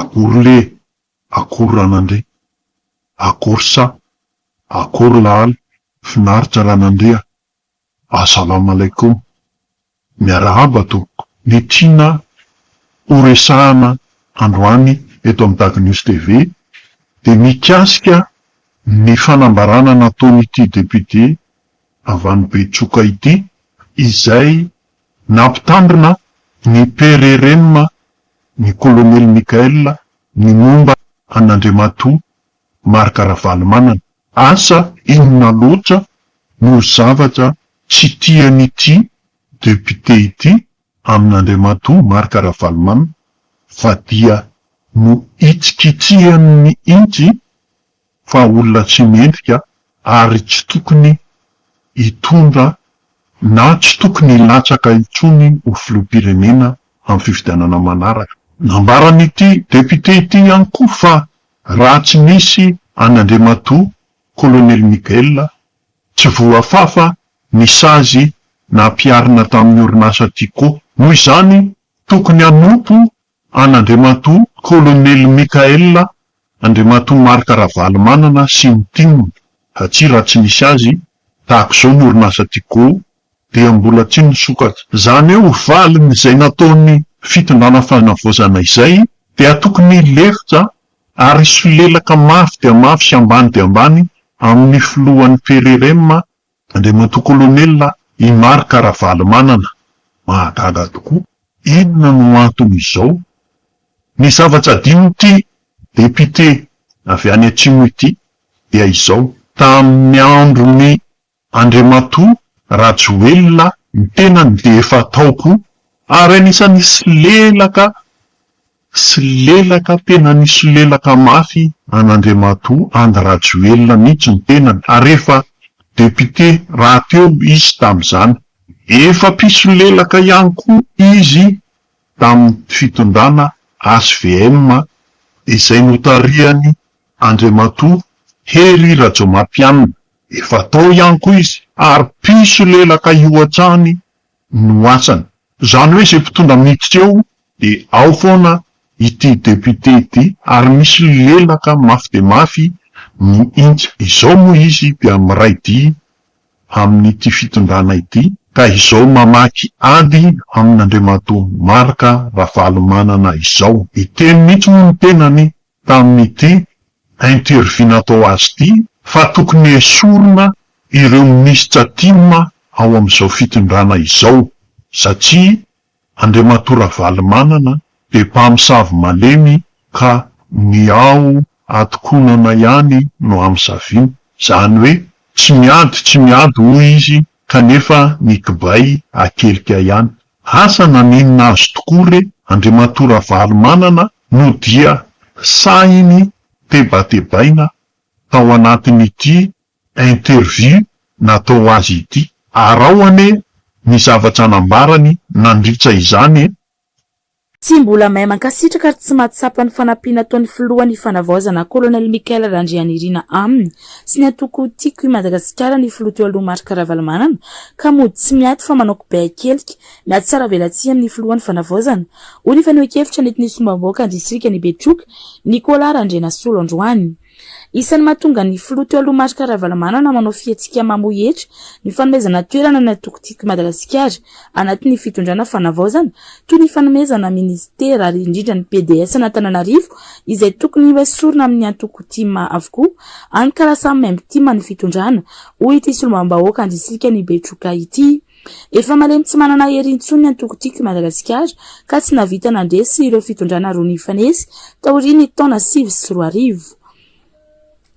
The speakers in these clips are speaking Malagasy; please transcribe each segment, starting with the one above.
Akory le, akory ranandria, akory sa, akory lahaly, finaritra ranandria a, Assalam Alaikum, miarahaba tompoko, ny tiana ho resahana androany eto amin'ny Dago News TV dia mikasika ny fanambarana nataon'ity député avy any Betsoka ity izay Nampitandrina ny PRRM ny Kolonely Michael ny momba an'Andriamatoa Marc Ravalomanana. Asa inona loatra no zavatra tsy tian'ity Député ity amin'Andriamatoa Marc Ravalomanana fa dia nohitsikitsihany mihintsy fa olona tsy mendrika ary tsy tokony hitondra na tsy tokony hilatsaka intsony ho filoham-pirenena amin'ny fifidianana manaraka. Nambaran'ity depiote ity ihany koa fa raha tsy nisy an'i Andriamatoa Kolonely Miguel, tsy voafafa ny sazy nampiharina tamin'ny orinasa Tiko. Noho izany, tokony hanompo An'Andriamatoa Kolonely Michael Andriamatoa Marc Ravalomanana sy ny tim, satria raha tsy nisy azy, tahaka izao ny orinasa Tigo, dia mbola tsy nisokatra. Izany hoe valin'izay nataon'ny fitondrana fanavaozana izay dia tokony hilefitra ary hisolelaka mafy dia mafy sy ambany dia ambany amin'ny filohan'ny Frm Andriamatoa Kolonela I Marc Ravalomanana, mahagaga tokoa, inona no anton'izao? Ny zavatra adinon'ity depiote avy any atsimo ity dia izao, tamin'ny andron'i Andriamatoa Rajoelina ny tenany dia efa tao koa, ary anisan'ny solelaka Solelaka tena nisolelaka mafy an'Andriamatoa Andry Rajoelina mihitsy ny tenany ary efa député rahateo izy tamin'izany. Efa mpisolelaka ihany koa izy tamin'ny fitondrana HVM izay notarihan'i Andriamatoa Hery Rajaomampianina. Efa tao ihany koa izy ary mpisolelaka io hatrany no asany. Izany hoe izay mpitondra miditra eo dia ao foana ity député ity ary misy lelaka mafy dia mafy mihintsy. Izao moa izy dia miray dia amin'ity fitondrana ity ka izao mamaky ady amin'Andriamatoa Marc Ravalomanana izao. Hiteny mihintsy moa ny tenany tamin'ity interview natao azy ity fa tokony hesorina ireo minisitra tim ao amin'izao fitondrana izao satria Andriamatoa Ravalomanana dia mpamosavy malemy ka ny ao atokonana ihany no amosaviny, izany hoe tsy miady tsy miady hoy izy kanefa ny kibay akelika ihany. Asa naninona azy tokoa re Andriamatoa Ravalomanana no dia sahiny tebatebaina tao anatin'ity interview natao azy ity. Arao anie ny zavatra nambarany nandritra izany e! Tsy mbola mahay mankasitraka ary tsy mahatsapa ny fanampiana ataon'ny filohan'ny Fanavaozana Colonel Michael Randrianirina aminy sy ny antoko Tiako i Madagasikara ny filoha teo aloha Marc Ravalomanana ka mody tsy miato fa manao kibeakelika miatsaravelatsihy amin'ny filohan'ny Fanavaozana, hoy ny fanehoankevitra nentin'ny Solombavambahoakan'ny Distrikan'i Betroka, Nicolas Randrianasolo androany. Isan'ny mahatonga ny filoha teo aloha Marc Ravalomanana manao fihetsika mamoy hetra ny fanomezana toerana ny antoko Tiako i Madagasikara anatin'ny fitondrana fanavaozana toy ny fanomezana minisitera ary indrindra ny PDS'Antananarivo izay tokony hoesorina amin'ny antoko tim avokoa any ka lasa maimbo tim ny fitondrana hoy ity solombavambahoaka andrisikan'i Betroka ity. Efa malemy tsy manana hery intsony ny antoko Tiako i Madagasikara ka tsy nahavita nandresy ireo fitondrana roa nifanesy taorian'ny taona sivy sy roa arivo.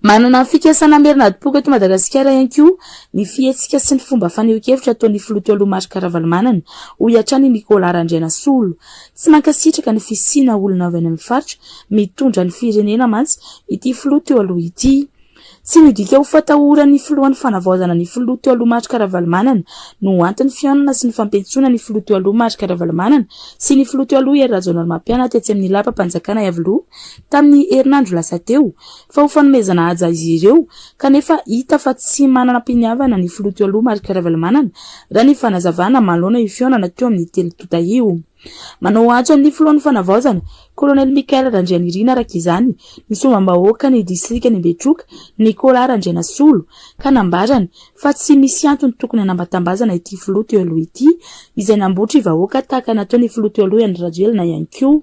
Manana fikasana hamerina adim-poko eto Madagasikara ihany koa ny fihetsika sy ny fomba fanehoan-kevitra ataon'ny filoha taloha Marc Ravalomanana, hoy hatrany i Nicolas Randrianasolo. Tsy mankasitraka ny fisiana olona avy any amin'ny faritra mitondra ny firenena mantsy ity filoha teo aloha ity. Tsy midika ho fatahoran'ny filoha ny fanavaozana ny filoha teo aloha Marc Ravalomanana no ho anton'ny fihaonana sy ny fampiantsoana ny filoha teo aloha Marc Ravalomanana sy ny filoha teo aloha Hery Rajaonarimampianina tetsy amin'ny lapam-panjakana Iavoloha tamin'ny herinandro lasa teo fa ho fanomezana haja izy ireo kanefa hita fa tsy mananam-piniavana ny filoha teo aloha Marc Ravalomanana raha ny fanazavana manoloana io fihaonana teo amin'ny telo tonta io. Manao antso ny filohan'ny Fanavaozana, kolonely Michael Randrianirina araka izany ny solombavambahoakan'ny distrikan'i Betroka, Nicolas Randrianasolo, ka nambarany fa tsy misy antony tokony hanambatambazana ity filoha teo aloha ity izay nambotry vahoaka tahaka nataon'ny filoha teo aloha Andry Rajoelina ihany koa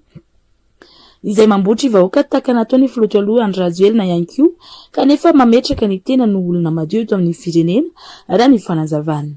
izay mambotry vahoaka tahaka nataon'ny filoha teo aloha Andry Rajoelina ihany koa kanefa mametraka ny tenany ho olona madio eto amin'ny firenena raha ny fanazavana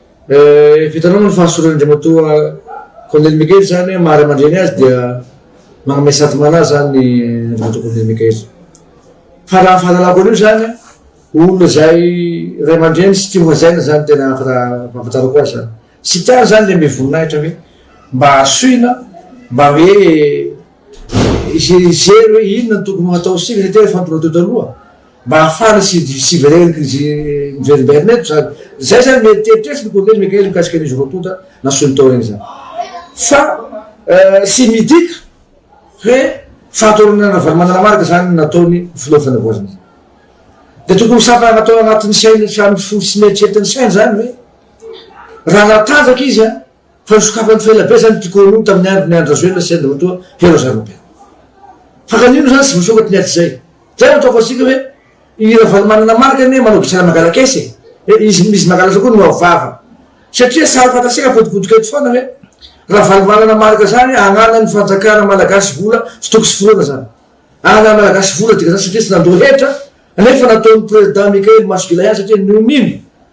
Vitanao moa ny fahasoran' Andriamatoa Kolonely Mikaely izany hoe maha ray aman-dreny azy dia manome satimana azy izany Andriamatoa Kolonely Mikaely. Fa raha ny fahalalako an'io izany olona izay ray aman-dreny sy tia hajaina izany tena fa raha fahafantarako azy izany. Tsy tiany izany ilay be voninahitra hoe mba asoina mba hoe hijery hoe inona no tokony ho atao sisa satria efa nitonatona taloha. Mba hahafahana sy hiverenan'ny krizy miverimberina eto izany. Izay izany no eritreritreritry ny Kolonely Mikael mikasika an'izy roa tonta na solitaire izany. Fa tsy midika hoe fahatolonana Ravalomanana-Marc izany nataon'ny Filoha Fanavaozana izany. Dia tokony ho sampana natao anatin'ny sainy sy amin'ny fo sy ny eritreritry ny sainy izany hoe raha natanjaka izy an! Fa nosokafan'i Felabe zany ity Kôrônina tamin'ny andron'i Andry Rajoelina sy Andriamatoa Heroza Robert. Fa ka nino zany tsy voasokatra ny ady zay. Zay no ataoko antsika hoe i Ravalomanana Marc anie manao gisana mangalak'esa e. He izy izy mangalatra koa no avo vava. Satria sary fantatsika apotipotika eto foana hoe Ravalomanana Marc zany ananan'ny fanjakana malagasy vola tsy tokony tsy foroana zany. Ananan'ny malagasy vola dika zany satria tsy nandoa hetra nefa nataon'i Président Michael maso gila ihany satria nonino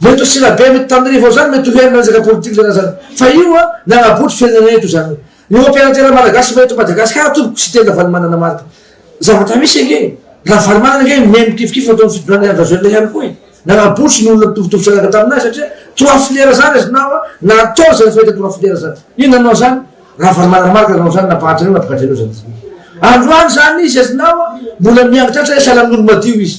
Mety ho sila-be mety tamin'ny vao zany mety ho hery nanjaka politika zany zany fa io a nanabotry fiainana eto zany hoe ny operatera malagasy efa eto Madagasikara tompoko sy tena valimanana marika zavatra misy ange ravalimanana ange mihay mikifikify ataon'ny fitondrana Andry Rajoelina ihany koa e nanabotry ny olona mitovitovy zanaka taminay satria trois filières zany izy na wa natao zany fahita trois filières zany io nanao zany ravalimanana marika nanao zany nampahatra an'io nampahatra an'io zany androany zany izy azy na wa mbola miangitratra izy sahala amin'olo madio izy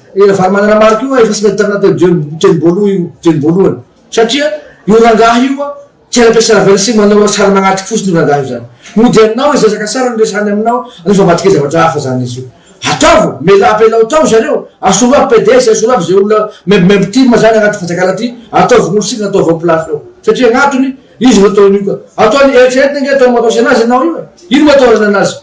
I Ravalomananamalo io efa tsy mety tany anatin'io teny voalohany io teny voalohany satria io rangahy io a tsy any am-piasaravelo sy manao lasary magnatrika fotsiny io rangahy io zany. Mody aminao izy resaka sary no resahany aminao nefa matokia zavatra hafa zany izy io. Ataovy mela apelao tao zareo asolo aby PDS asolo aby ze olona maimbomaibo tim zany agnaty fanjakana ty ataovy gnolo sivy ataovy ao place ao satria agnatony izy no ataony io ka ataony eritreretina nge ataony mataosy anazy enao io e ino mataorana anazy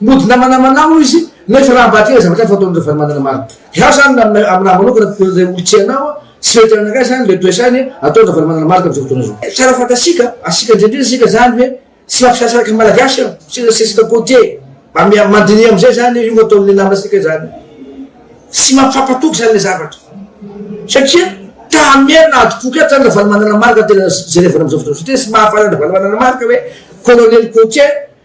Mody namanamana hoy izy, mety raha mba tena zavatra hafa ataon'i Ravalomanana marina. Izaho izany na amin'ny aminahy manokana toy ilay olon-tsy hainao aho, tsy mety aminakahy izany ilay toe-tsainy ataon'i Ravalomanana marina amin'izao fotoana izao. Tsara fantatsika, asiaka indrindra isika izany hoe tsy mampisasaraka ny Malagasy aho, tsy resisaka côtier, mba mandiniha amin'izay izany io ataon'ny namantsika izany. Tsy mampampatoky izany ilay zavatra satria ta-hamerina hadim-poko ihany izany Ravalomanana marina tena jerevana amin'izao fotoana izao satria tsy mahafantatra an'i Ravalomanana marina hoe colonel côtier,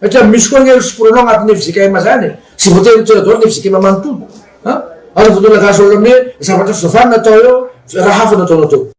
Satria misy koa anie ry siporano agnatin'ny fjkm zany e! tsy voatery ho tonga daholo ny fjkm manontolo a! ary voalohany gasy daholo amin'ny hoe zavatra fizavana natao eo fa raha hafa no ataonao teo.